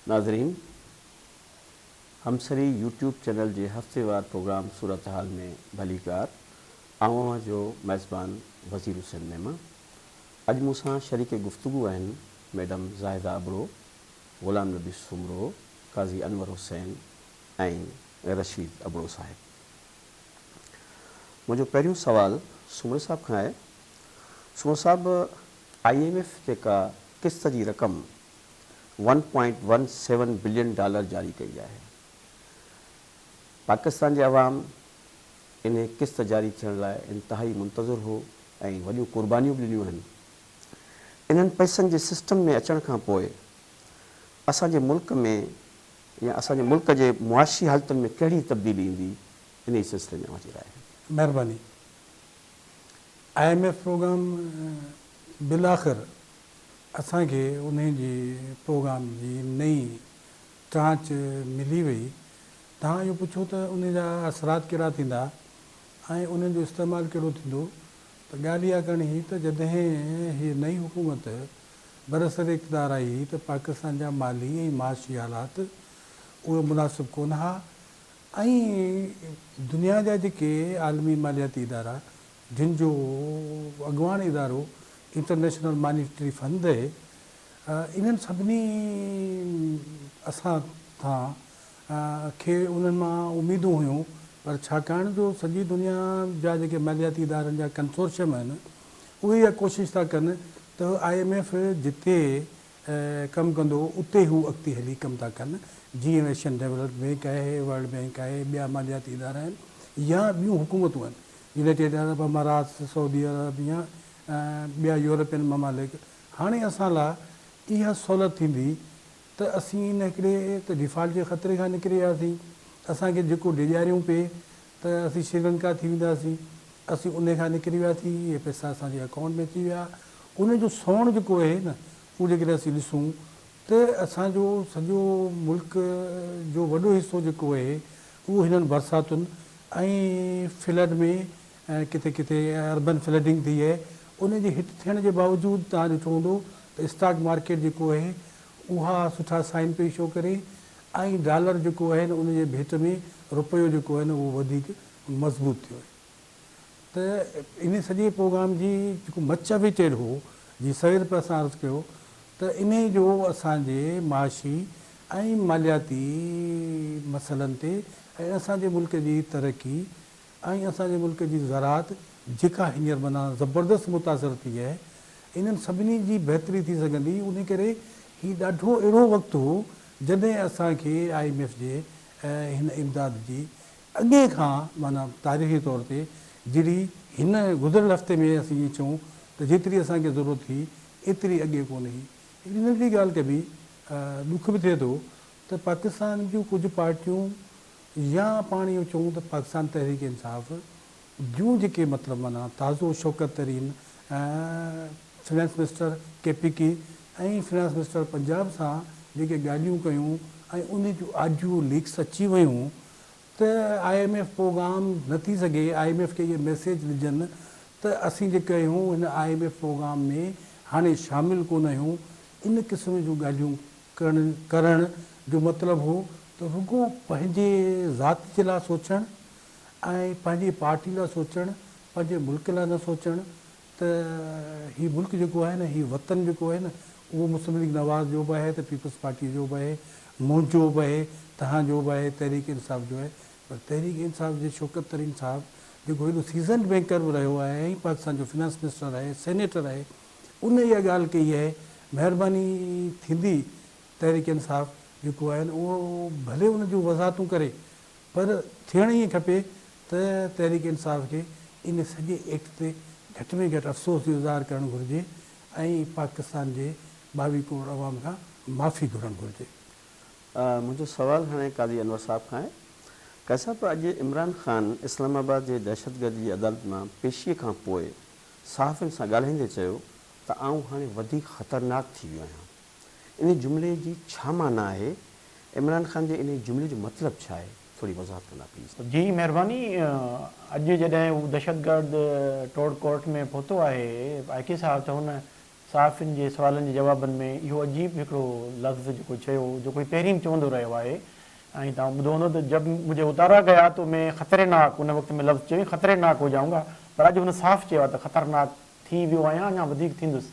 ناظرين! همسري YouTube channel جي هفتيوار پروگرام صورتحال ۾ ڀليڪار آئون اوهان جو ميزبان وزير حسين ميمڻ اڄ مون سان شريڪ گفتگو آهن ميڊم زاهده ابڙو، غلام نبي سومرو، قاضي انور حسين ۽ رشيد ابڙو صاحب. منهنجو پهريون سوال سومري صاحب کان آهي سومرو صاحب آئي ايم ايف جيڪا قسط جي رقم one point one seven billion dollar جاري ڪئي آهي پاڪستان جي عوام انهي قسط جاري ٿيڻ لاء انتهائي منتظر هو ۽ وڏيون قربانيون به ڏنيون آهن انهن پئسن جي سسٽم ۾ اچڻ کان پوء اسان جي ملڪ ۾ يا اسان جي ملڪ جي معاشي حالتن ۾ ڪهڙي تبديلي ايندي انهي سلسلي ۾ اوهان جي راء مهرباني آء ايم ايف پروگرام بالاخر اسان کي انهي جي پروگرام جي نئين ٽرانچ ملي وئي. توهان اهو پڇو ته انهي جا اثرات ڪهڙا ٿيندا ۽ انهن جو استعمال ڪهڙو ٿيندو ته ڳالهه اها ڪرڻي هئي ته جڏهن هيء نئين حڪومت برسر اقتدار آئي هئي ته پاڪستان جا مالي ۽ معاشي حالات اهي مناسب ڪونه ها ۽ دنيا جا جيڪي عالمي مالياتي ادارا جن جو اڳواڻ ادارو انٽرنيشنل مانيٽري فنڊ اهي، انهن سڀني اسان تان کي انهن مان اميدون هيون پر ڇاڪاڻ جو سڄي دنيا جا جيڪي مالياتي ادارن جا ڪنسورشيم آهن اهي اها ڪوشش ٿا ڪن ته آء ايم ايف جتي ڪم ڪندو اتي هو اڳتي هلي ڪم ٿا ڪن جيئن ايشين ڊيولپمينٽ بينڪ آهي، ورلڊ بينڪ آهي، ٻيا مالياتي ادارا آهن يا ٻيون حڪومتون آهن يونائيٽيڊ عرب امارات، سعودي عرب يا ٻيا يورپين ممالڪ، هاڻي اسان لا اها سهولت ٿيندي ته اسين ان هڪڙي ته ڊيفالٽ جي خطري کان نڪري وياسين، اسان کي جيڪو ڊيڄاريون پئي ته اسين شريلنڪا ٿي وينداسين، اسين انهي کان نڪري وياسين، اهي پئسا اسان جي اڪائونٽ ۾ اچي ويا، انهي جو سونهن جيڪو اهي نه اهو جيڪڏهن اسين ڏسون ته اسان جو سڄو ملڪ جو وڏو حصو جيڪو اهي اهو هنن برساتن ۽ فلڊ ۾ ڪٿي ڪٿي اربن فلڊنگ ٿي اهي ان جي هٽ ٿيڻ جي باوجود توهان ڏٺو هوندو ته اسٽاڪ مارڪيٽ جيڪو اهي اها سٺا سائن پئي شو ڪري ۽ ڊالر جيڪو اهي ان جي ڀيٽ ۾ روپيو جيڪو اهي اهو وڌيڪ مضبوط ٿيو اهي. ته انهي سڄي پروگرام جي جيڪو مچ وي ٽيل هو جي سوير به اسان عرض ڪيو ته انهي جو اسان جي معاشي ۽ مالياتي مسئلن تي ۽ اسان جي ملڪ جي ترقي ۽ اسان جي ملڪ جي زراعت جيڪا هينئر معنيٰ زبردست متاثر ٿي آهي انهن سڀني جي بهتري ٿي سگهندي انهي ڪري هي ڏاڍو اهڙو وقت هو جڏهن اسان کي آء ايم ايف جي هن امداد جي اڳي کان معنيٰ تاريخي طور تي جهڙي هن گذريل هفتي ۾ اسين ائين چئون ته جيتري اسان کي ضرورت هئي ايتري اڳي ڪونه هئي. هڪڙي ننڍڙي ڳالهه ڪبي ڏک به ٿئي ٿو ته پاڪستان جون ڪجهه پارٽيون يا پاڻ اهو چئون ته پاڪستان تحريڪ انصاف جون جيڪي مطلب معنيٰ تازو Shaukat Tareen finance minister K P K ۽ finance minister Punjab سان جيڪي ڳالهيون ڪيون ۽ ان جون آڊيو ليڪس اچي ويون ته آء ايم ايف پروگرام نه ٿي سگهي، آء ايم ايف کي اهي ميسيج ڏجن ته اسين جيڪي آهيون هن آء ايم ايف پروگرام ۾ هاڻي شامل ڪونه آهيون، ان قسم جون ڳالهيون ڪرڻ ڪرڻ جو مطلب هو ته رڳو پنهنجي ذات جي لاء سوچڻ ۽ پنهنجي پارٽي لاء سوچڻ، پنهنجي ملڪ لاء نه سوچڻ، ته هي ملڪ جيڪو آهي نه هي وطن جيڪو آهي نه اهو مسلم ليگ نواز جو به آهي ته پيپلز پارٽي جو به آهي منهنجو به آهي توهان جو به آهي تحريڪ انصاف جو آهي پر تحريڪ انصاف جي شوڪت ترين صاحب جيڪو هيڏو سيزنڊ بينڪر به رهيو آهي ۽ پاڪستان جو فنانس منسٽر آهي سينيٽر آهي ان اها ڳالهه ڪئي آهي مهرباني ٿيندي تحريڪ انصاف جيڪو آهي نه اهو ڀلي ان جون وضاحتون ڪري پر ٿيڻ ائين کپي ته تحريڪ انصاف کي ان سڄي ايڪٽ تي گهٽ ۾ گهٽ افسوس جو اظهار ڪرڻ گهرجي ۽ پاڪستان جي ٻاويهه ڪروڙ عوام کان معافي گهرڻ گهرجي. منهنجو سوال هاڻي قاضي انور صاحب کان آهي. قاضي صاحب اڄ عمران خان اسلام آباد جي دهشتگردي جي عدالت مان پيشي کان پوء صحافين سان ڳالهائيندي چيو ته آئون هاڻي وڌيڪ خطرناڪ ٿي ويو آهيان. انهي جملي جي ڇا معنيٰ آهي؟ عمران خان جي انهي جملي جو مطلب ڇا آهي؟ ٿوري وضاحت ڪندا پليز. جي مهرباني اڄ جڏهن هو دهشتگرد ٽوڙ ڪورٽ ۾ پهتو آهي آء ڪي صاحب ته هن صحافين جي سوالن جي جوابن ۾ اهو عجيب هڪڙو لفظ جيڪو چيو جيڪو هي پهرين به چوندو رهيو آهي ۽ توهان ٻڌو هوندو ته جب مجهي اتارا گيا تو مين خطري ناڪ ان وقت ۾ لفظ چيو هئي خطري ناڪ هو جائونگا پر اڄ هن صاف چيو آهي ته خطرناڪ ٿي ويو آهيان اڃا وڌيڪ ٿيندس.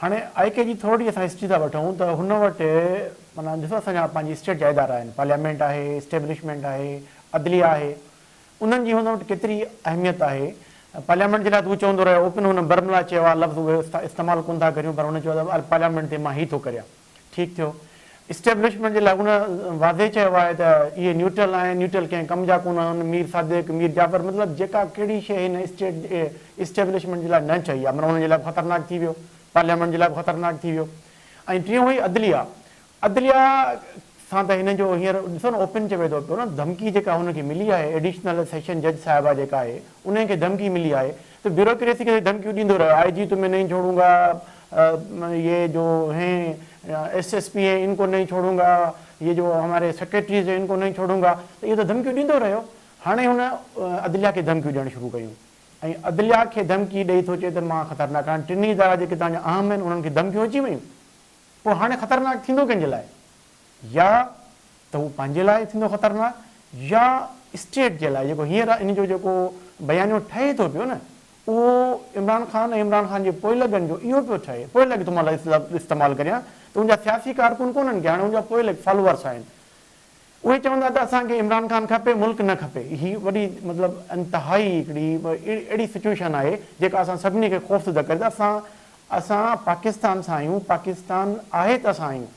هاڻي آء ڪي جي ٿورڙي اسان هسٽري ٿا وٺون ته هن وٽ معنيٰ ڏسو اسان جا پنهنجي اسٽيٽ جا ادارا آهن پارليامينٽ آهي اسٽيبلشمينٽ آهي عدليه آهي انهن جي هن وٽ ڪيتري اهميت آهي پارليامينٽ جي لاء ته هو چوندو رهيو اوپن هن برملا چيو آهي لفظ اهي استعمال ڪونه ٿا ڪريون پر هن چيو آهي ته پارليامينٽ تي مان هي ٿو ڪريان. ٺيڪ ٿيو. اسٽيبلشمينٽ جي لاء ان واضح چيو آهي ته اهي نيوٽرل آهن، نيوٽرل ڪنهن ڪم جا ڪونه آهن، مير صادق، مير جعفر مطلب جيڪا ڪهڙي شيء هن اسٽيٽ اسٽيبلشمينٽ جي لاء نه چئي آهي معنيٰ انهن جي لاء به خطرناڪ ٿي ويو، پارليامينٽ جي لاء به خطرناڪ ٿي ويو ۽ ٽيون هئي عدليه، عدليه. سان ته هن جو هينئر ڏسو نه اوپن چوي ٿو پيو نه ڌمڪي جيڪا هن کي ملي آهي ايڊيشنل سيشن جج صاحبه جيڪا آهي انهي کي ڌمڪي ملي آهي ته بيوروڪريسي کي ڌمڪيون ڏيندو رهيو آء جي تمهين نهين ڇوڙون گا يي جو هين ايس ايس پي هين ان ڪو نهين ڇوڙون گا يي جو هماري سيڪريٽريز هين ان ڪو نهين ڇوڙون گا ته اهي ته ڌمڪيون ڏيندو رهيو هاڻي هن عدليه کي ڌمڪيون ڏيڻ شروع ڪيون ۽ عدليه کي ڌمڪي ڏئي ٿو چئي ته مان خطرناڪ آهيان ٽنهي ادارا جيڪي توهان جا اهم هين انهن کي ڌمڪيون اچي ويون پوء هاڻي خطرناڪ ٿيندو ڪنهن جي لاء؟ يا ته هو پنهنجي لاء ٿيندو خطرناڪ يا اسٽيٽ جي لاء، جيڪو هينئر ان جو جيڪو بيانيو ٺهي ٿو پيو نه اهو عمران خان ۽ عمران خان جي پوئلڳن جو اهو پيو ٺهي، پوئلڳ ٿو مان لفظ استعمال ڪريان ته ان جا سياسي ڪارڪن ڪونهن ڪي هاڻي ان جا پوئلڳ فالوورس آهن اهي چوندا ته اسان کي عمران خان کپي ملڪ نه کپي هي وڏي مطلب انتهائي هڪڙي اهڙي سچوئيشن آهي جيڪا اسان سڀني کي خوفزده ڪري ته اسان اسان پاڪستان سان آهيون پاڪستان آهي ته اسان آهيون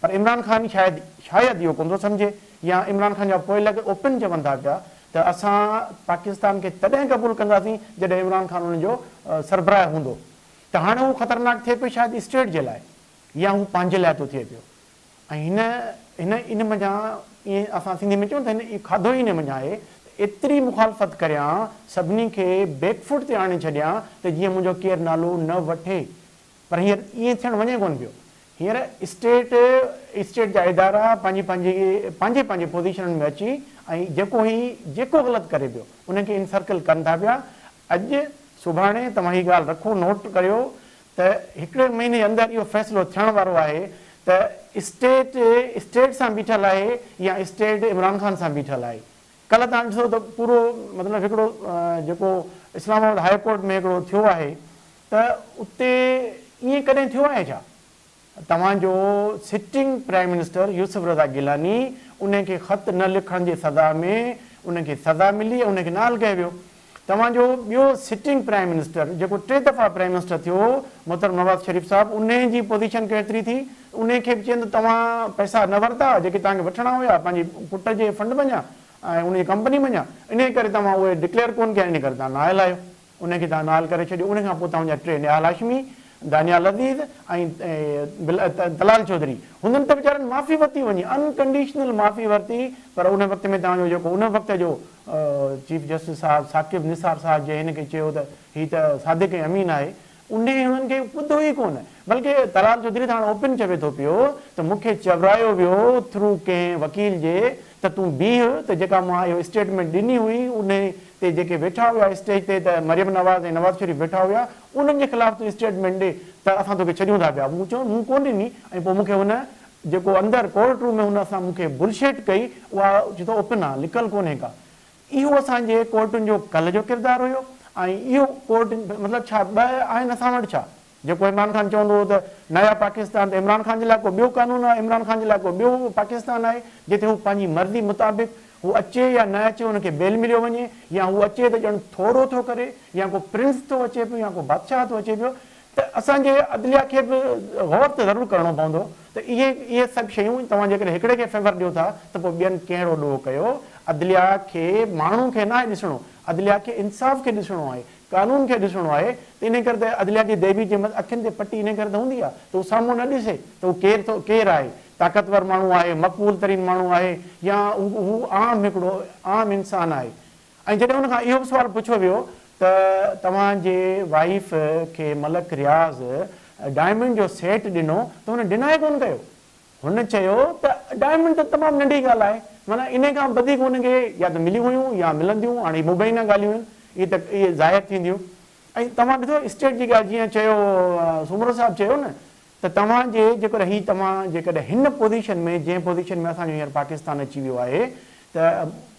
پر عمران خان شايد شايد اهو ڪونه ٿو سمجهي يا عمران خان جا پوئلڳ اوپن چون ٿا پيا ته اسان پاڪستان کي تڏهن قبول ڪنداسين جڏهن عمران خان ان جو سربراهه هوندو ته هاڻي هو خطرناڪ ٿئي پيو شايد اسٽيٽ جي لاء يا هو پنهنجي لاء ٿو ٿئي پيو. ۽ هن هن ان منجهان ائين اسان سنڌي ۾ چئون ته هن کاڌو ئي ان منجهان آهي ته ايتري مخالفت ڪريان سڀني کي بيڪ فوٽ تي آڻي ڇڏيان ته جيئن منهنجو ڪير نالو نه وٺي پر هينئر ائين ٿيڻ وڃي ڪونه پيو هينئر اسٽيٽ اسٽيٽ جا ادارا پنهنجي پنهنجي پنهنجي پنهنجي پوزيشنن ۾ اچي ۽ جيڪو هي جيڪو غلط ڪري پيو ان کي انسرڪل ڪن ٿا پيا اڄ سڀاڻي توهان هي ڳالهه رکو نوٽ ڪريو ته هڪڙي مهيني اندر اهو فيصلو ٿيڻ وارو آهي ته اسٽيٽ اسٽيٽ سان بيٺل آهي يا اسٽيٽ عمران خان سان بيٺل آهي. ڪلهه توهان ڏسو ته پورو مطلب هڪڙو جيڪو اسلام آباد هاء ڪورٽ ۾ هڪڙو ٿيو آهي ته اتي ائين ڪڏهن ٿيو آهي ڇا؟ توهان جو sitting prime minister Yousuf Raza Gilani انهن کي خط نه لکڻ جي سزا ۾ انهن کي سزا ملي ۽ انهن کي نال ڪيو ويو. توهان جو ٻيو سٽنگ پرائم منسٽر جيڪو ٽي دفعا پرائم منسٽر ٿيو هو محترم نواز شريف صاحب انهن جي پوزيشن ڪهڙتري ٿي انهن کي به چين ته توهان پئسا نه ورتا جيڪي توهان کي وٺڻا هيا پنهنجي پٽ جي فنڊ منجهان ۽ ان جي ڪمپني منجهان انهي ڪري توهان اهي ڊڪليئر ڪون ڪيا ان ڪري توهان نااهل آهيو. ان کي تان نهال ڪري ڇڏيو ان کان پوء توهان جا ٽي نهال هاشمي، دانيال عزيز ۽ طلال چوڌري هوندن ته ويچارن معافي ورتي وڃي ان ڪنڊيشنل معافي ورتي پر ان وقت ۾ توهان جو جيڪو ان وقت جو چيف جسٽس صاحب ثاقب نثار صاحب جنهن هن کي چيو ته هي ته صادق ۽ امين آهي انهيء هنن کي ٻڌو ئي ڪونه، بلڪ طلال چوڌري ته هاڻ اوپن چوي ٿو پيو ته مون کي چورايو ويو ٿرو ڪنهن وڪيل جي ته تون بيهه ته جيڪا مون اهو اسٽيٽمينٽ ڏني هئي انهي تي جيڪي ويٺا هيا اسٽيج تي ته مريم نواز ۽ نواز شريف ويٺا هيا انهن جي خلاف تون اسٽيٽمينٽ ڏي ته اسان توکي ڇڏيون ٿا پيا مون چيو مون ڪونه ڏني ۽ پوء مون کي هن جيڪو اندر ڪورٽ روم ۾ هن سان مون کي بلشٽ ڪئي اها چي ٿو اوپن آهي لڪل ڪونهي ڪا اهو اسان جي ڪورٽن جو ڪلهه جو ڪردار هيو ۽ اهو ڪورٽ مطلب ڇا ٻه آهن اسان وٽ ڇا؟ جيڪو عمران خان چوندو هو ته نيا پاڪستان ته عمران خان جي لاء ڪو ٻيو قانون آهي عمران خان جي لاء ڪو ٻيو پاڪستان آهي جتي هو پنهنجي مرضي مطابق هو اچي يا نه اچي هن کي بيل مليو وڃي يا هو اچي ته ڄڻ ٿورو ٿو ڪري يا ڪو پرنس ٿو اچي پيو يا ڪو بادشاهه ٿو اچي پيو ته اسان جي عدليا کي به غور ته ضرور ڪرڻو پوندو ته اهي اهي سڀ شيون توهان جيڪڏهن هڪڙي کي فيور ڏيو ٿا ته پوء ٻين ڪهڙو ڏوهه ڪيو عدليا کي ماڻهو کي ناهي ڏسڻو عدليا کي انصاف کي ڏسڻو آهي قانون کي ڏسڻو آهي ته انهي ڪري ته عدليا جي ديوي جي اکين تي پٽي انهي ڪري ته هوندي آهي ته هو سامهون نه ڏسي ته هو ڪير ٿو ڪير آهي طاقتور ماڻهو آهي مقبول ترين ماڻهو آهي يا هو عام هڪڙو عام انسان آهي ۽ جڏهن ان کان اهو به سوال پڇيو ويو ته توهان جي وائيف کي ملڪ رياض ڊائمنڊ جو سيٽ ڏنو ته هن ڊنائي ڪونه ڪيو هن چيو ته ڊائمنڊ ته تمام ننڍي ڳالهه آهي معنيٰ انهي کان وڌيڪ هن کي يا ته مليون هيون يا ملنديون هاڻي هي مبينه ڳالهيون آهن اهي ته ظاهر ٿينديون ۽ توهان ڏٺو اسٽيٽ جي ڳالهه جيئن چيو سومرو صاحب چيو نه ته توهان جي جيڪر هي توهان جيڪڏهن هن پوزيشن ۾ جنهن پوزيشن ۾ اسان جو هينئر پاڪستان اچي ويو آهي ته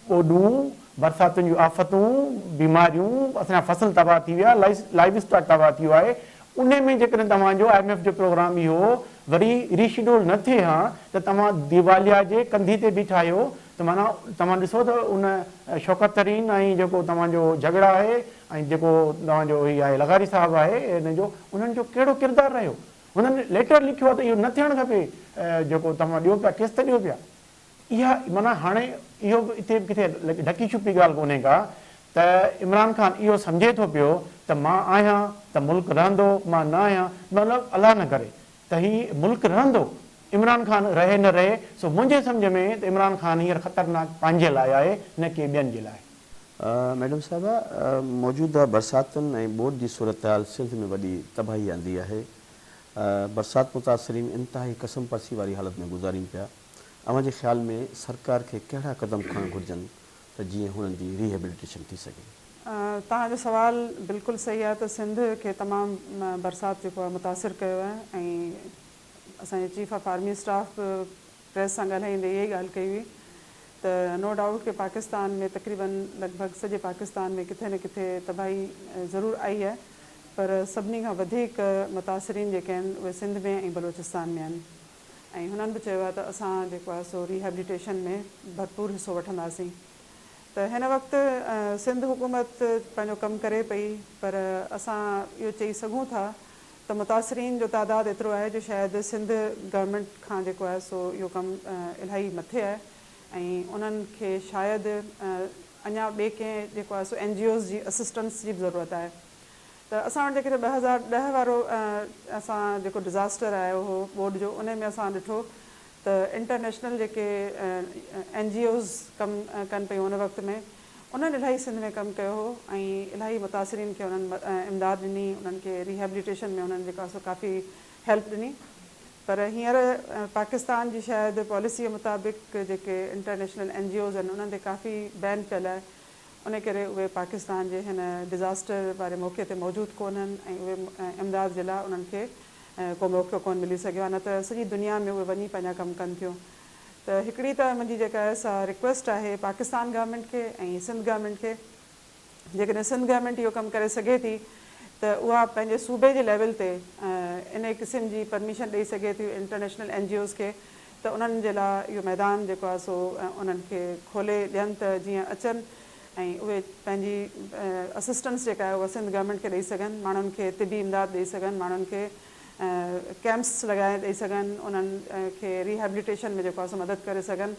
ٻوڏون، برساتن جون آفتون، بيماريون، اسان جا فصل تباهه ٿي ويا، لائيو اسٽاڪ تباهه ٿيو آهي، انهي ۾ جيڪڏهن توهان جو آء ايم ايف جو پروگرام اهو وري ري شيڊول نه ٿئي ها ته توهان ديواليا جي ڪنڌي تي بيٺا آهيو ته معنيٰ توهان ڏسو ته ان شوڪت ترين ۽ جيڪو توهان جو جهڳڙا آهي ۽ جيڪو توهان جو هي آهي لغاري صاحب آهي ان جو انهن جو ڪهڙو ڪردار رهيو هنن ليٽر لکيو آهي ته اهو نه ٿيڻ کپي جيڪو توهان ڏيو پيا قسط ڏيو پيا اها معنيٰ هاڻي اهو به اتي ڪٿي ڍڪي ڇپي ڳالهه ڪونهي ڪا ته عمران خان اهو سمجهي ٿو پيو ته مان آهيان ته ملڪ رهندو مان نه آهيان مطلب الله نه ڪري ته هي ملڪ رهندو عمران خان رهي نه رهي سو منهنجي سمجهه ۾ ته عمران خان هينئر خطرناڪ پنهنجي لاء آهي نه ڪي ٻين جي لاء. ميڊم صاحبه موجوده برساتن ۽ ٻوڏ جي صورتحال سنڌ ۾ وڏي تباهي آندي آهي، برسات متاثرين انتهائي ڪسم پرسي واري حالت ۾ گذارين پيا، اوهان جي خيال ۾ سرڪار کي ڪهڙا قدم کڻڻ گهرجن ته جيئن هنن جي ري هيبليٽيشن ٿي سگهي؟ توهان جو سوال بلڪل صحيح آهي ته سنڌ کي تمام برسات جيڪو آهي متاثر ڪيو آهي ۽ اسان جي چيف آف آرمي اسٽاف به پريس سان ڳالهائيندي اها ئي ڳالهه ڪئي هئي ته نو ڊائوٽ ڪي پاڪستان ۾ تقريباً لڳ ڀڳ سڄي پاڪستان ۾ ڪٿي نه ڪٿي تباهي ضرور آئي آهي پر سڀني کان وڌيڪ متاثرين جيڪي آهن اهي سنڌ ۾ ۽ بلوچستان ۾ آهن ۽ هنن به چيو آهي ته اسان جيڪو آهي سو ريهيبليٽيشن ۾ ڀرپور حصو وٺنداسين ته هن وقت سنڌ حڪومت پنهنجو ڪم ڪري پئي پر اسان اهو چئي سگهون ٿا ته متاثرين جو تعداد ايترو آهي جو شايد سنڌ گورنمينٽ کان جيڪو آهي سو اهو ڪم الاهي مٿي آهي ۽ انهن کي شايد اڃا ٻي ڪنهن جيڪو آهي سو اين جي اوز جي اسسٽنس جي به ضرورت آهي ته اسان وٽ جيڪڏهن ٻه هزار ڏهه وارو اسان جيڪو ڊزاسٽر آيو هو ٻوڏ جو انهي ۾ اسان ڏٺو ته انٽرنيشنل جيڪي اين جي اوز ڪم ڪن پيون ان وقت ۾ انهن الاهي سنڌ ۾ ڪم ڪيو هو ۽ الاهي متاثرين کي انهن امداد ڏني، انهن کي ريهيبليٽيشن ۾ انهن جيڪا سو ڪافي هيلپ ڏني پر هينئر پاڪستان جي شايد پاليسيء مطابق جيڪي انٽرنيشنل اين جي اوز آهن انهن تي ڪافي بين پيل آهي انهي ڪري اهي پاڪستان جي هن ڊزاسٽر واري موقعي تي موجود ڪونهن ۽ اهي امداد جي لاء انهن کي ڪو موقعو ڪونه ملي سگهيو آهي نه ته سڄي دنيا ۾ اهي وڃي پنهنجا ڪم ڪن ٿيون ته هڪڙي ته منهنجي جيڪا آهي سا رڪويسٽ آهي پاڪستان گورنمينٽ کي ۽ سنڌ گورنمينٽ کي جيڪڏهن سنڌ گورنمينٽ اهو ڪم ڪري سگهي ٿي ته اها پنهنجي صوبي جي ليول تي انهي قسم جي پرميشن ڏئي سگهي ٿي انٽرنيشنل اين جي اوز کي ته انهن جي لاء اهو ميدان جيڪو آهي سو انهن کي کولي ڏين ته جيئن اچن ۽ اهي پنهنجي اسسٽنس جيڪا آهي اها سنڌ گورنمينٽ کي ڏئي سگهن ماڻهن کي طبي امداد ڏئي سگهن ماڻهن کي ڪئمپس لڳائي ڏئي سگهن انهن کي ريهيبليٽيشن ۾ جيڪو آهي سو مدد ڪري سگهن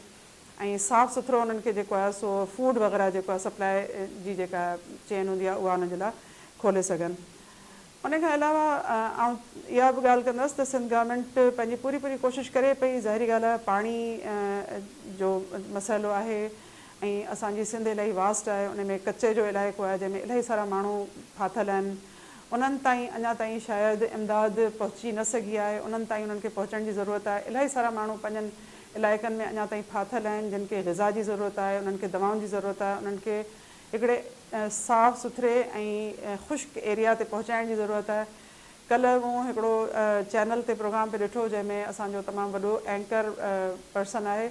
۽ صاف سٿرو انهن کي جيڪو آهي سو فوڊ وغيره جيڪو آهي سپلاء جي جيڪا چين هوندي آهي اها انهن جي لاء کولي سگهن ان کان علاوه آئون اها به ڳالهه ڪندس ته سنڌ گورنمينٽ پنهنجي پوري پوري ڪوشش ڪري پئي ظاهري ڳالهه آهي پاڻي جو مسئلو آهي ۽ اسان جي سنڌ الاهي واسٽ آهي ان ۾ ڪچي جو علائقو آهي جنهن ۾ الاهي سارا ماڻهو ڦاٿل آهن انهن تائين اڃا تائين شايد امداد پهچي نه سگهي آهي، انهن تائين انهن کي پهچڻ جي ضرورت آهي، الائي سارا ماڻهو پنهنجن علائقن ۾ اڃا تائين ڦاٿل آهن، جن کي غذا جي ضرورت آهي، انهن کي دوائن جي ضرورت آهي، انهن کي هڪڙي صاف سٿري ۽ خشڪ ايريا تي پهچائڻ جي ضرورت آهي، ڪلهه مون هڪڙو چينل تي پروگرام پي ڏٺو جنهن ۾ اسان جو تمام وڏو اينڪر پرسن آهي،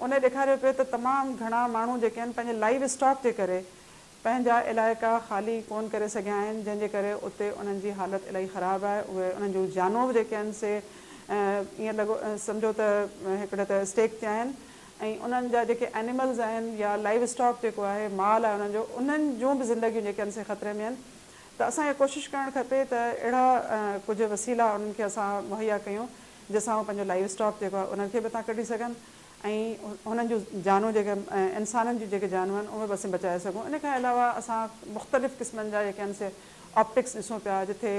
ان ڏيکاريو پيو ته تمام گهڻا ماڻهو جيڪي آهن پنهنجي لائيو اسٽاڪ جي ڪري. پنهنجا علائقا خالي ڪون ڪري سگهيا آهن جنهن جي ڪري اتي انهن جي حالت الاهي خراب آهي اهي انهن جون جانوب جيڪي آهن سي ائين لڳو سمجهو ته هڪڙي ته اسٽيڪ تي آهن ۽ انهن جا جيڪي ائنيملز آهن يا لائيو اسٽاڪ جيڪو آهي مال آهي انهن جو انهن جون به زندگيون جيڪي آهن سي خطري ۾ آهن ته اسان کي ڪوشش ڪرڻ کپي ته اهڙا ڪجهه وسيلا انهن کي اسان مهيا ڪيون جنهن سان اهي پنهنجو لائيو اسٽاڪ جيڪو آهي انهن کي به اتان ڪڍي سگهن ۽ انهن جون جانون جيڪي انسانن جون جيڪي جانون آهن اهي به اسين بچائي سگهون ان کان علاوه اسان مختلف قسمن جا جيڪي آهن سي آپٽڪس ڏسون پيا جتي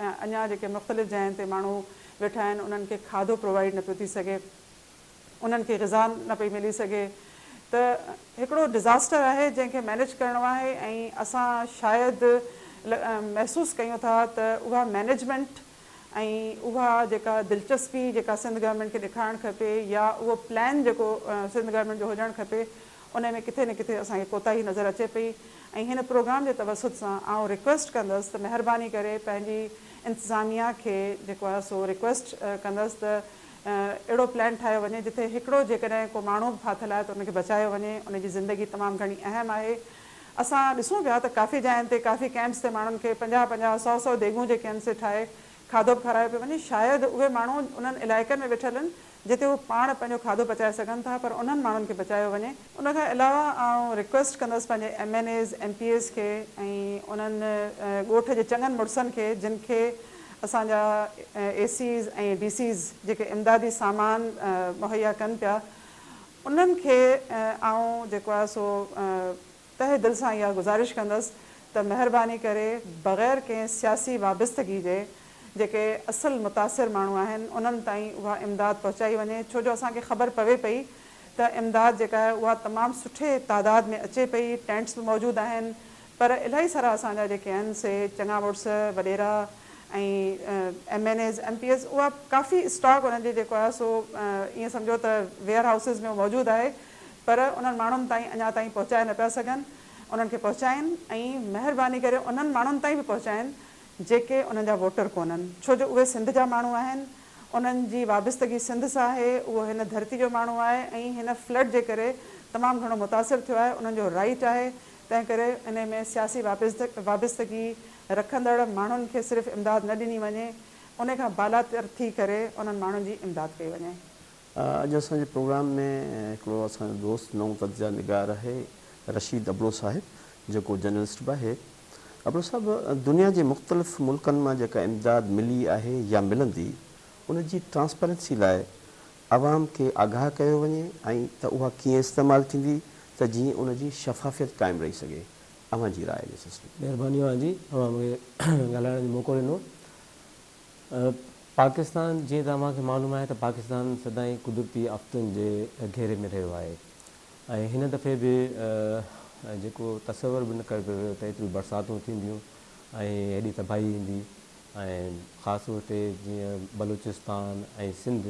اڃان جيڪي مختلف جاين تي ماڻهو ويٺا آهن انهن کي کاڌو پرووائيڊ نه پيو ٿي سگهي انهن کي غذا نه پئي ملي سگهي ته هڪڙو ڊزاسٽر آهي جنهن کي مينيج ڪرڻو آهي ۽ اسان شايد محسوس ڪيون ٿا ته اها مينيجمينٽ ۽ اها جيڪا دلچسپي جيڪا سنڌ گورنمينٽ کي ڏيکارڻ کپي يا اهو پلان جيڪو سنڌ گورنمينٽ جو هجڻ کپي ان ۾ ڪٿي نه ڪٿي اسان کي ڪوتاهي نظر اچي پئي ۽ هن پروگرام جي توسط سان آئون ريڪويسٽ ڪندس ته مهرباني ڪري پنهنجي انتظاميا کي جيڪو آهي سو ريڪويسٽ ڪندس ته اهڙو پلان ٺاهيو وڃي جتي هڪڙو جيڪڏهن ڪو ماڻهو به ڦاٿل آهي ته ان کي بچايو وڃي ان جي زندگي تمام گهڻي اهم آهي اسان ڏسون پيا ته ڪافي جاين تي ڪافي ڪئمپس تي ماڻهن کي پنجاهه پنجاهه سؤ سؤ ديڳون جي ڪئمپس تي ٺاهي کاڌو به کارايو پيو وڃي شايد اهي ماڻهو انهن علائقن ۾ ويٺل آهن جتي هو پاڻ پنهنجو کاڌو پچائي سگهن ٿا پر انهن ماڻهن کي بچايو وڃي. ان کان علاوه آئون ريڪويسٽ ڪندس پنهنجي M N As M P As کي ۽ انهن ڳوٺ جي چڱن مڙسن کي جن کي اسان جا اي سيز ۽ ڊي سيز جيڪي امدادي سامان مهيا ڪن پيا انهن کي آئون جيڪو آهي سو تهه دل سان اها گذارش ڪندس ته مهرباني ڪري بغير ڪنهن سياسي وابستگي جي جيڪي اصل متاثر ماڻهو آهن انهن تائين اها امداد پهچائي وڃي ڇو جو اسان کي خبر پوي پئي ته امداد جيڪا آهي اها تمام سٺي تعداد ۾ اچي پئي ٽينٽس به موجود آهن پر الائي سارا اسان جا جيڪي آهن سي چڱا مڙس وڏيرا ۽ M N As M P As اها ڪافي اسٽاڪ انهن جي جيڪو آهي سو ائين سمجهو ته ويئر هائوسز ۾ موجود آهي پر انهن ماڻهن تائين اڃا تائين پهچائي نه پيا سگهن انهن کي پهچائين ۽ مهرباني ڪري انهن ماڻهن تائين به پهچائين جيڪي انهن جا ووٽر ڪونهن ڇو جو اهي سنڌ جا ماڻهو آهن انهن جي وابستگي سنڌ سان آهي اهو هن ڌرتي جو ماڻهو آهي ۽ هن فلڊ جي ڪري تمام گهڻو متاثر ٿيو آهي انهن جو رائيٽ آهي تنهن ڪري انهي ۾ سياسي وابستگي رکندڙ ماڻهن کي صرف امداد نه ڏني وڃي، انهي کان بالاتر ٿي ڪري انهن ماڻهن جي امداد ڪئي وڃي. اڄ اسان جي پروگرام ۾ هڪڙو اسان جو دوست نئون تجزيا نگار آهي رشيد ابڙو صاحب جيڪو جرنلسٽ به آهي. ابڙو صاحب دنيا جي مختلف ملڪن مان جيڪا امداد ملي آهي يا ملندي ان جي ٽرانسپيرنسي لاء عوام کي آگاهه ڪيو وڃي ۽ ته اها ڪيئن استعمال ٿيندي ته جيئن ان جي شفافيت قائم رهي سگهي اوهان جي راء ڏي سسٽم. مهرباني اوهان جي اوهان مونکي ڳالهائڻ جو موقعو ڏنو پاڪستان جيئن ته اوهان کي معلوم آهي ته پاڪستان سدائين قدرتي آفتن جي گهيري ۾ رهيو آهي ۽ هن دفعي به جيڪو تصور به نه ڪيو پيو ويو ته ايتريون برساتون ٿينديون ۽ هيڏي تباهي ايندي ۽ خاص طور تي جيئن بلوچستان ۽ سنڌ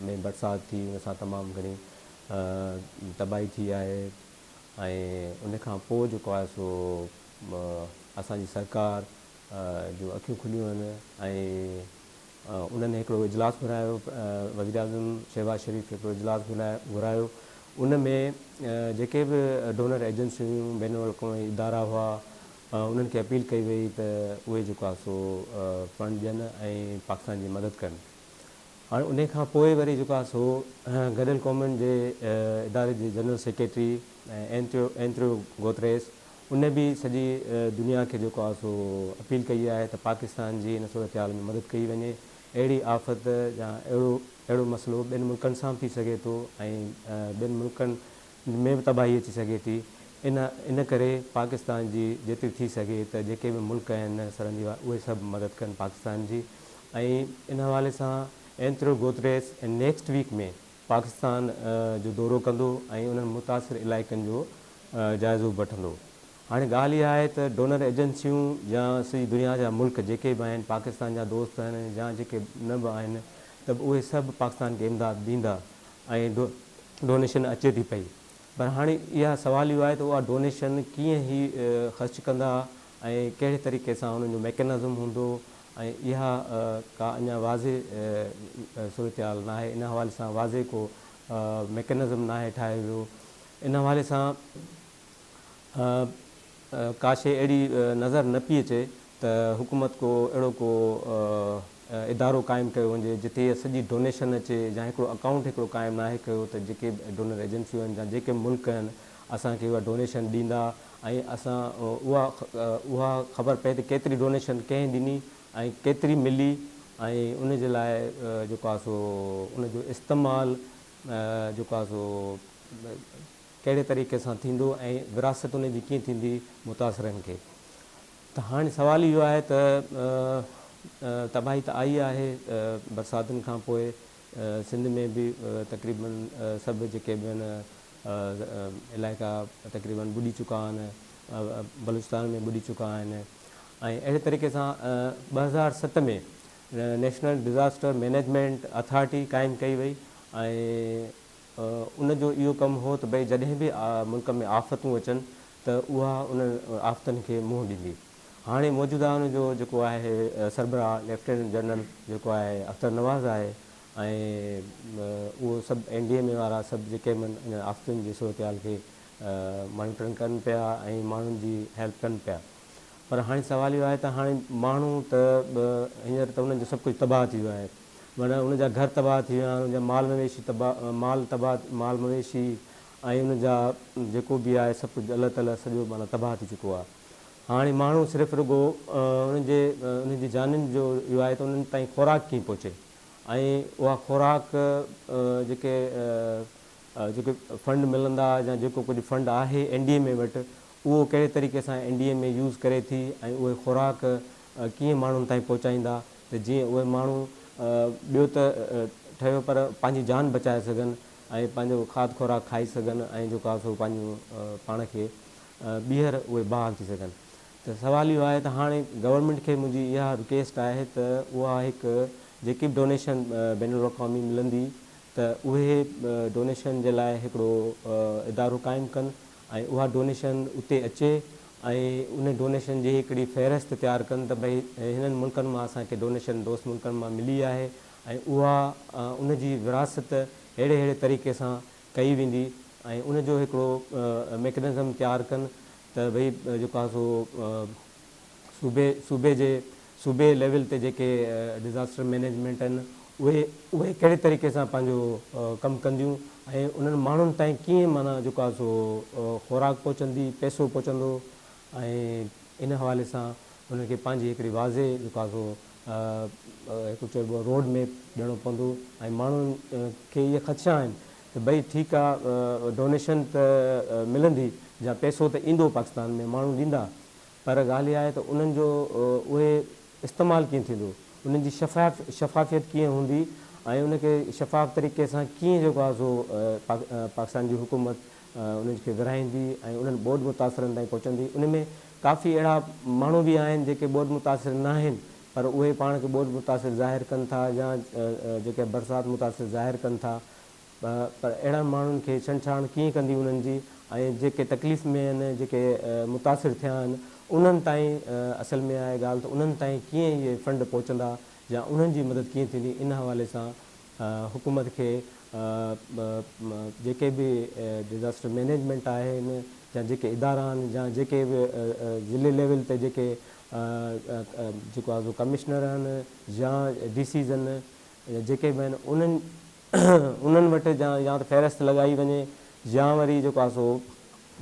۾ برسات ٿي ان سان تمام گهڻي تباهي ٿي آهي ۽ ان کان پوء جيڪو آهي سو اسان جي سرڪار جون اکيون کليون آهن ۽ انهن هڪڙو اجلاس گهرايو وزيراعظم شهباز شريف هڪڙو اجلاس گهرايو ان ۾ جيڪي به ڊونر ايجنسيون هيون بين الاقوامي ادارا هئا انهن کي اپيل ڪئي وئي ته اهي جيڪو آهي سو فنڊ ڏين ۽ پاڪستان جي مدد ڪن. هاڻي انهي کان پوء وري جيڪو آهي سو گڏيل قومن جي اداري جي جنرل سيڪريٽري اينٽريو گوتريس انهي به سڄي دنيا کي جيڪو آهي سو اپيل ڪئي آهي ته پاڪستان جي ان صورتحال ۾ مدد ڪئي وڃي. اهڙي آفت يا اهڙو مسئلو ٻين ملڪن سان به ٿي سگهي ٿو ۽ ٻين ملڪن ۾ به تباهي اچي سگهي ٿي ان ان ڪري پاڪستان جي جيتري ٿي سگهي ته جيڪي به ملڪ آهن سرن جي اهي سڀ مدد ڪن پاڪستان جي ۽ ان حوالي سان Antonio Guterres next week ۾ Pakistan جو دورو ڪندو ۽ انهن متاثر علائقن جو جائزو به وٺندو هاڻي ڳالهه اها آهي ته ڊونر ايجنسيون يا سڄي دنيا جا ملڪ جيڪي به آهن پاڪستان جا دوست آهن يا جيڪي نه به آهن ته اهي سڀ پاڪستان کي امداد ڏيندا ۽ ڊونيشن اچي ٿي پئي پر هاڻي اها سوال اهو آهي ته اها ڊونيشن ڪيئن هي خرچ ڪندا ۽ ڪهڙي طريقي سان انهن جو ميڪنزم هوندو ۽ اها ڪا اڃا واضع صورتحال ناهي ان حوالي سان واضع ڪو ميڪنزم ناهي ٺاهيو ويو ان حوالي سان ڪا شيء اهڙي نظر نه پئي اچي ته حڪومت ڪو اهڙو ڪو ادارو قائم ڪيو وڃي جتي اها سڄي ڊونيشن اچي يا هڪڙو اڪائونٽ هڪڙو قائم ناهي ڪيو ته جيڪي به ڊونر ايجنسيون آهن يا جيڪي به ملڪ آهن اسان کي اها ڊونيشن ڏيندا ۽ اسان اها اها خبر پئي ته ڪيتري ڊونيشن ڪنهن ڏني ۽ ڪيتري ملي ۽ ان جي لاء جيڪو آهي سو ان جو استعمال جيڪو آهي سو ڪهڙي طريقي سان ٿيندو ۽ وراثت ان جي ڪيئن ٿيندي متاثرن کي ته هاڻي سوال اهو آهي ته تباهي ته آئي آهي برساتن کان پوء سنڌ ۾ به تقريبن سڀ جيڪي به آهن علائقا تقريبن ٻڏي چڪا آهن بلوچستان ۾ ٻڏي چڪا آهن ۽ اهڙي طريقي سان ٻه هزار ست ۾ نيشنل ڊزاسٽر مينيجمينٽ اٿارٽي قائم ڪئي وئي ۽ ان جو اهو ڪم هو ته ڀئي جڏهن به ملڪ ۾ آفتون اچن ته اها انهن آفتن کي منهن ڏيندي. هاڻي موجوده ان جو جيڪو آهي سربراهه ليفٽيننٽ جنرل جيڪو آهي اختر نواز آهي ۽ اهو سڀ اين ڊي ايم اي وارا سڀ جي ڪيم ان آفتن جي صورتحال کي مانيٽرنگ ڪن پيا ۽ ماڻهن جي هيلپ ڪن پيا پر هاڻي سوال اهو آهي ته هاڻي ماڻهو ته هينئر ته انهن جو سڀ ڪجهه تباهه ٿي ويو آهي. معنيٰ انهن جا گهر تباهه ٿي ويا، انهن جا مال مويشي تباهه، مال تباهه، مال مويشي ۽ انهن جا جيڪو به آهي سڀ ڪجهه الله تعاليٰ سڄو معنيٰ تباهه ٿي چڪو آهي. هاڻي ماڻهو صرف رڳو انهن جي انهن جي جانين جو اهو آهي ته انهن تائين خوراڪ ڪيئن پهچي ۽ اها خوراڪ جيڪي جيڪي فنڊ ملندا يا جيڪو ڪجهه فنڊ آهي اين ڊي ايم اي وٽ اهو ڪهڙي طريقي سان N D M A use ڪري ٿي ۽ اهي خوراڪ ڪيئن ماڻهن تائين پهچائيندا ته جيئن اهي ماڻهو ٻيو ته ٺهيو پر پنهنجي جان بچائي سگهن ۽ پنهنجو کاڌ خوراڪ کائي سگهن ۽ جيڪو آهي سو پنهنجو پاڻ کي ٻيهر اهي بحال ٿي سگهن ته سوال اهو آهي ته هاڻي گورنمينٽ کي منهنجي اها رڪيسٽ آهي ته اها هڪ جيڪي به ڊونيشن بين الاقوامي ملندي ته اهي ڊونيشن جي لاء هڪڙو ادارو قائم ڪن ۽ اها ڊونيشن اتي اچي ۽ ان ڊونيشن جي هڪڙي فهرست تيار ڪن ته ڀئي هنن ملڪن مان اسان کي ڊونيشن دوست ملڪن مان ملي آهي ۽ اها ان جي ورهاست ههڙي ههڙي طريقي سان ڪئي ويندي ۽ ان جو هڪڙو ميڪنزم تيار ڪن ته ڀئي جيڪو آهي سو صوبي صوبي جي صوبي ليول تي جيڪي ڊزاسٽر مينيجمينٽ آهن اهي اهي ڪهڙي طريقي سان پنهنجو ڪم ڪنديون ۽ انهن ماڻهن تائين ڪيئن معنيٰ جيڪو آهي سو خوراڪ پهچندي پئسو پهچندو ۽ ان حوالي سان انهن کي پنهنجي هڪڙي واضح جيڪو آهي سو هڪ چئبو آهي روڊ ميپ ڏيڻو پوندو ۽ ماڻهن کي اهي خدشا آهن ته ڀئي ٺيڪ آهي ڊونيشن ته ملندي جا پئسو ته ايندو پاڪستان ۾ ماڻهو ڏيندا پر ڳالهه اها آهي ته انهن جو اهي استعمال ڪيئن ٿيندو، انهن جي شفاف شفافيت ڪيئن هوندي ۽ ان کي شفاف طريقي سان ڪيئن جيڪو آهي سو پاڪستان جي حڪومت انهن کي ورهائيندي ۽ انهن ٻوڏ متاثرن تائين پهچندي. ان ۾ ڪافي اهڙا ماڻهو به آهن جيڪي ٻوڏ متاثر ناهن پر اهي پاڻ کي ٻوڏ متاثر ظاهر ڪن ٿا يا جيڪي برسات متاثر ظاهر ڪن ٿا. ٻه پر اهڙن ماڻهن کي ڇنڇاڻ ڪيئن ڪندي انهن جي ۽ جيڪي تڪليف ۾ آهن جيڪي متاثر ٿيا آهن انهن تائين اصل ۾ آهي ڳالهه ته انهن تائين ڪيئن اهي فنڊ پهچندا يا انهن جي مدد ڪيئن ٿيندي ان حوالي سان حڪومت کي جيڪي به ڊزاسٽر مينيجمينٽ آهن يا جيڪي ادارا آهن يا جيڪي به ضلعي ليول تي جيڪي جيڪو آهي سو ڪمشنر آهن يا ڊي سيز آهن يا جيڪي به آهن انهن انهن وٽ جا يا ته فهرست لڳائي وڃي يا وري جيڪو آهي سو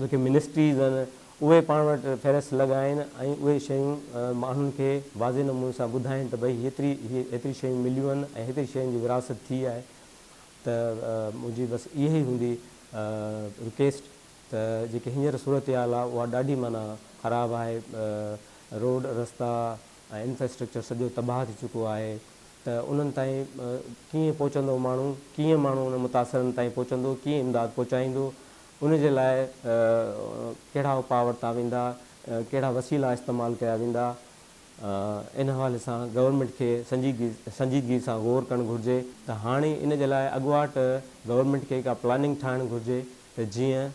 جيڪي منسٽريز آهن اهي پاڻ وٽ فهرست لڳائين ۽ اهي شيون ماڻهن کي واضح نموني سان ٻڌائين ته ڀئي هيتري هيتري شيون مليون آهن ۽ هيتري شين جي ورهاست ٿي آهي ته منهنجي بس اها ئي هوندي رڪيسٽ ته جيڪي هينئر صورتحال آهي اها ڏاڍي معنيٰ خراب آهي روڊ رستا ۽ انفراسٽرڪچر سڄو تباهه ٿي چڪو آهي ته انهن تائين ڪيئن پهچندو ماڻهو، ڪيئن ماڻهو انهن متاثرن تائين پهچندو، ڪيئن امداد پهچائيندو، ان جي لاء ڪهڙا اپاء ورتا ويندا، ڪهڙا وسيلا استعمال ڪيا ويندا، ان حوالي سان گورنمينٽ کي سنجيدگي سنجيدگي سان غور ڪرڻ گهرجي ته هاڻي ان جي لاء اڳواٽ گورنمينٽ کي ڪا پلاننگ ٺاهڻ گهرجي ته جيئن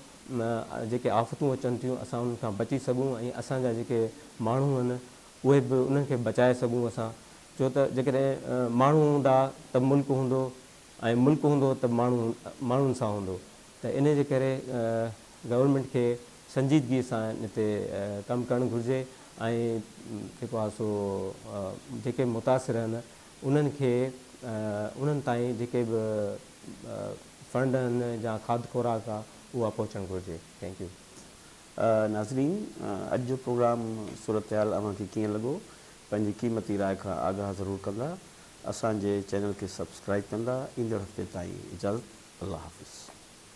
جيڪي آفتون اچن ٿيون اسان انهن کان بچي سگهون ۽ اسان جا جيڪي ماڻهو آهن اهي به انهن کي بچائي سگهون اسان ڇو ته جيڪڏهن ماڻهو هوندا ته ملڪ هوندو ۽ ملڪ هوندو ته ماڻهو ماڻهن سان هوندو ته انهي جي ڪري گورنمينٽ کي سنجيدگي سان ان تي ڪم ڪرڻ گهرجي ۽ جيڪو آهي سو جيڪي متاثر آهن انهن کي انهن تائين جيڪي به فنڊ آهن جا کاڌ خوراڪ آ اها پهچڻ گهرجي ٿينڪ يو. ناظرين اڄ جو پروگرام صورتحال اوهان کي ڪيئن لڳو پنهنجي قيمتي راء کان آگاهه ضرور ڪندا اسان جي چينل کي سبسڪرائب ڪندا ايندڙ هفتي تائين اجازت الله حافظ.